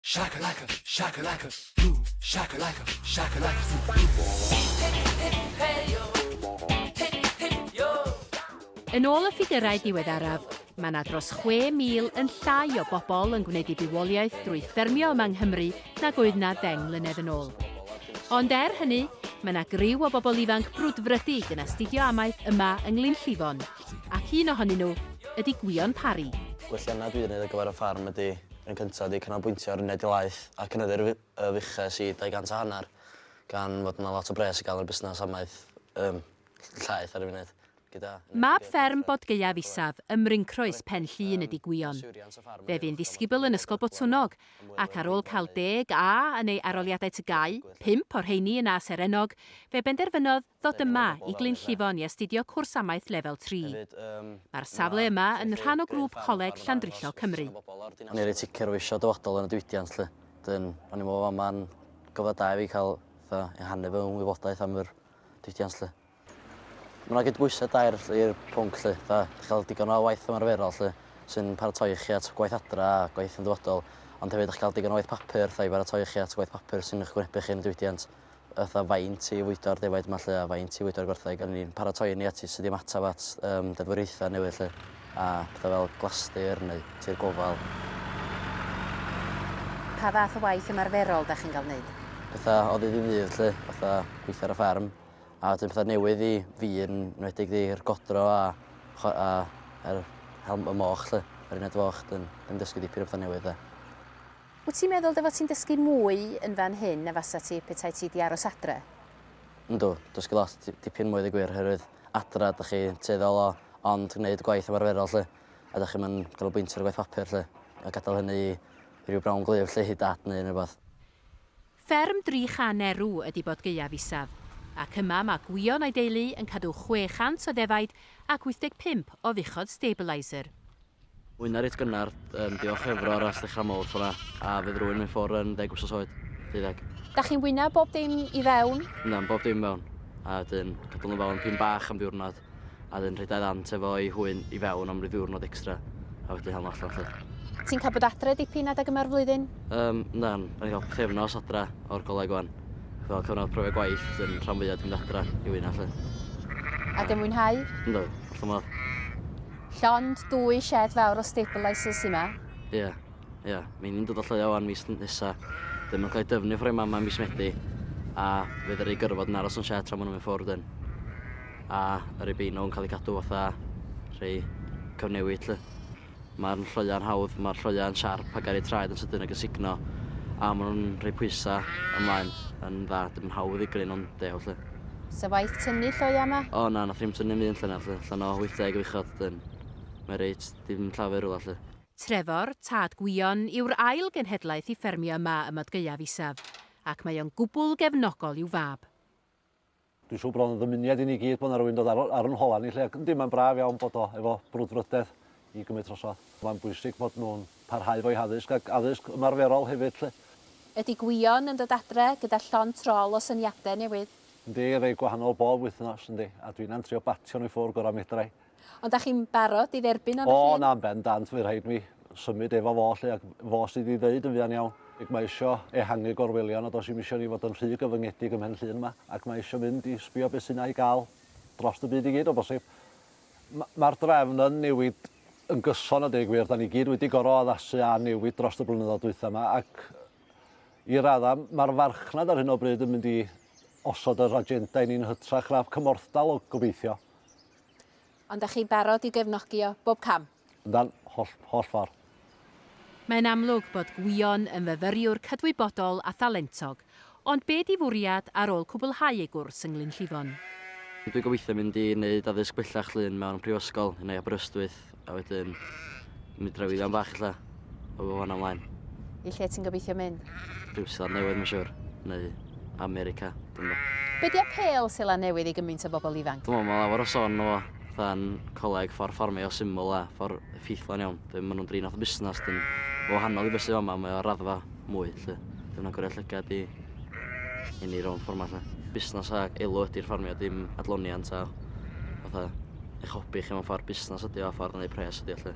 Shakalaka, shakalaka, boom. Shakalaka, shakalaka, Yn ôl y ffigyrau diweddaraf, mae 'na dros 6,000 yn llai o bobl yn gwneud eu bywoliaeth drwy ffermio yma yng Nghymru nag oedd 'na ddeng mlynedd yn ôl. Ond er hynny, mae 'na griw o bobl ifanc brwdfrydig yn astudio amaeth yma yng Nglynllifon, ac un ohonyn nhw ydi Gwion Parry. Gwelliannau dwi'n wneud ar gyfer y ffarm ydi yn cyntaf wedi canolbwyntio ar uned Ilaeth a cynyddu'r fuches i 200 a hanner gan fod yna lot o bres i gael ar y busnes amaeth ym Llaeth ar y funud gyda... Mab fferm Bodgaeaf Isaf ym Mryncroes, Pen Llŷn ydi Gwion. Fe fu'n ddisgybl yn Ysgol Botwnnog ac ar ôl cael deg A yn ei aroliadau TGAU, pump o'r rheiny yn A serennog, fe benderfynodd ddod yma i Glyn Llifon i astudio cwrs amaeth lefel tri. Mae'r safle yma yn rhan o grŵp Coleg Llandrillo Cymru. O'n i reit sicr o fisio dyfodol yn y diwydiant 'lly. Wedyn o'n i'n me'wl bo' fama'n gyfle da i fi ca'l fatha ehangu fy wybodaeth am yr diwydiant 'lly. Ma' 'na gydbwysedd da i'r i'r pwnc 'lly, fatha chi'n ca'l digon o waith ymarferol 'lly sy'n paratoi chi at gwaith adra a gwaith yn ddyfodol, ond hefyd 'dach chi'n ca'l digon o waith papur fatha i baratoi chi at gwaith papur sy'n 'ych gwynebu chi yn y diwydiant. fatha faint i fwydo'r defaid 'ma 'lly a faint i fwydo'r gwartheg a ni'n paratoi ni at sut i ymateb at yym deddfwriaethau newydd 'lly a petha fel glastir neu tir gofal. Pa fath o waith ymarferol 'da chi'n ga'l neud? Petha o ddydd i ddydd 'lly, fatha gweithio ar y ffarm a wedyn petha newydd i fi yn enwedig 'di'r godro a chwa- a yr helm- y moch 'lly yr uned foch 'dyn dwi 'di dysgu dipyn o petha newydd 'de. Wyt ti'n meddwl dy fod ti'n dysgu mwy yn fan hyn na fasat ti petai ti 'di aros adre? Yndw, dysgu lot, dipyn mwy a dweud y gwir, oherwydd adra dach chi tueddol o ond gwneud y gwaith ymarferol 'lly, a dach chi'm yn canolbwyntio ar y gwaith papur 'lly, a gadael hynny i ryw brown glue 'lly, i dad neu unrhyw beth. Fferm dri chan erw ydi bod gaeaf isaf, ac yma mae Gwion a'i deulu yn cadw 600 o ddefaid ac 85 o fuchod stabiliser. Mwy na reit gynnar, yn diolch Efro ar ras ddechrau mowr fora, a fydd rwy'n mynd ffwr yn ddeg wsos oed, deuddeg. Dach chi'n wyna bob dim i fewn? Yndan, bob dim i fewn, a wedyn cadw nhw fewn pin bach am ddiwrnod. a 'dyn rhedai ddant efo ei hwyn i fewn am ryw ddiwrnod extra a wedyn hel nhw allan 'lly. Ti'n cael bod adre dipyn adeg yma'r flwyddyn? Yym, na, o'n i'n cael pythefnos adra o'r goleg wan. Fel cyfnod profiad gwaith, wedyn rhan fwya 'di mynd adra i wyna 'lly. Ac yn mwynhau? Yndw, wrth fy modd. Llond dwy shed fawr o stabilisers sy 'ma. Ie, ie. Mi ni'n dod o Lloegr wan mis nesa. Wedyn ma'n cael ei dyfnu ffor ei mam 'ma mis Medi, a fe ddaru gyrfod yn aros yn shed tra ma' nhw'n mynd ffwrdd 'dyn. a yr Ibino yn cael ei cadw fatha rhei cyfnewid 'lly. Mae'r lloeau'n hawdd, mae'r lloeau'n siarp a gair eu traed yn sydyn ac yn sugno a maen nhw'n rhoi pwysau ymlaen yn dda, dim yn hawdd i greu nhw'n dew 'lly. Sa waith tynnu lloiau yma? O na, nath rhim tynnu ddim un llynedd 'lly, allan o 80 o fuchod, dyn. Mae reit, dim llafur rwla 'lly. Trefor, tad Gwion, yw'r ail genhedlaeth i ffermio yma ym Mad Gaeaf Isaf, ac mae o'n gwbwl gefnogol i'w fab. Dwi'n siŵr bod o'n ddymuniad i ni gyd bod yna rwy'n dod ar, ar yn hola ni lle. Yndi, mae'n braf iawn bod o efo brwdfrydedd i gymryd trosodd. Mae'n bwysig bod nhw'n parhau fo'i haddysg ac addysg ymarferol hefyd lle. Ydy Gwion yn dod adre gyda llond trol o syniadau newydd? Yndi, rei gwahanol bob wythnos, yndi, a dwin am trio batio nhw i ffwrdd gorau medra i. Ond da chi'n barod i dderbyn am y llun? O na, yn bendant, fydd rhaid mi symud efo fo 'lly, ac fo sydd i ddeud yn fuan iawn. Ac mae isio ehangu gorwelion, a does i'm isio ni fod yn rhy gyfyngedig ym mhen llun yma, ac mae isio mynd i sbio beth sy 'na i gael drost y byd i gyd o bosib. Mae'r drefn yn newid yn gyson a deg wir, da ni gyd wedi gorfod addasu a newid drost y blynyddoedd dwytha yma, ac i raddau mae'r farchnad ar hyn o bryd yn mynd i osod yr agenda i ni'n hytrach na cymorthdal o gobeithio. Ond da chi'n barod i'w gefnogi o bob cam? Yndan, holl, holl ffordd. Mae'n amlwg bod Gwion yn fyfyriwr cydwybodol a thalentog, ond be di fwriad ar ôl cwblhau ei gwrs yng Nglynllifon? Dwi'n gobeithio mynd i wneud addysg bellach Llŷn mewn prifysgol neu Aberystwyth. a wedyn mynd draw i ddion bach ella, a fo fan ymlaen. I lle ti'n gobeithio mynd? Rhyw Seland Newydd, mae'n siwr, neu America, dwi'n meddwl. Be di apêl Seland Newydd i gymaint o bobl ifanc? Dwi'n meddwl mae lawer o son o fatha'n coleg ffordd ffordd mae o syml a ffordd effeithlon iawn. Dwi'n meddwl nhw'n drin o fatha busnes, dwi'n wahanol i beth sydd yma, mae o raddfa mwy 'lly. Dim yn agor y llygad i i ni rown ffor 'ma 'lly. Busnas a elw ydi'r ffarmio dim adloniant a fatha eich hobi chi mewn ffor busnas ydi o a ffordd o neu' pres ydi o 'lly.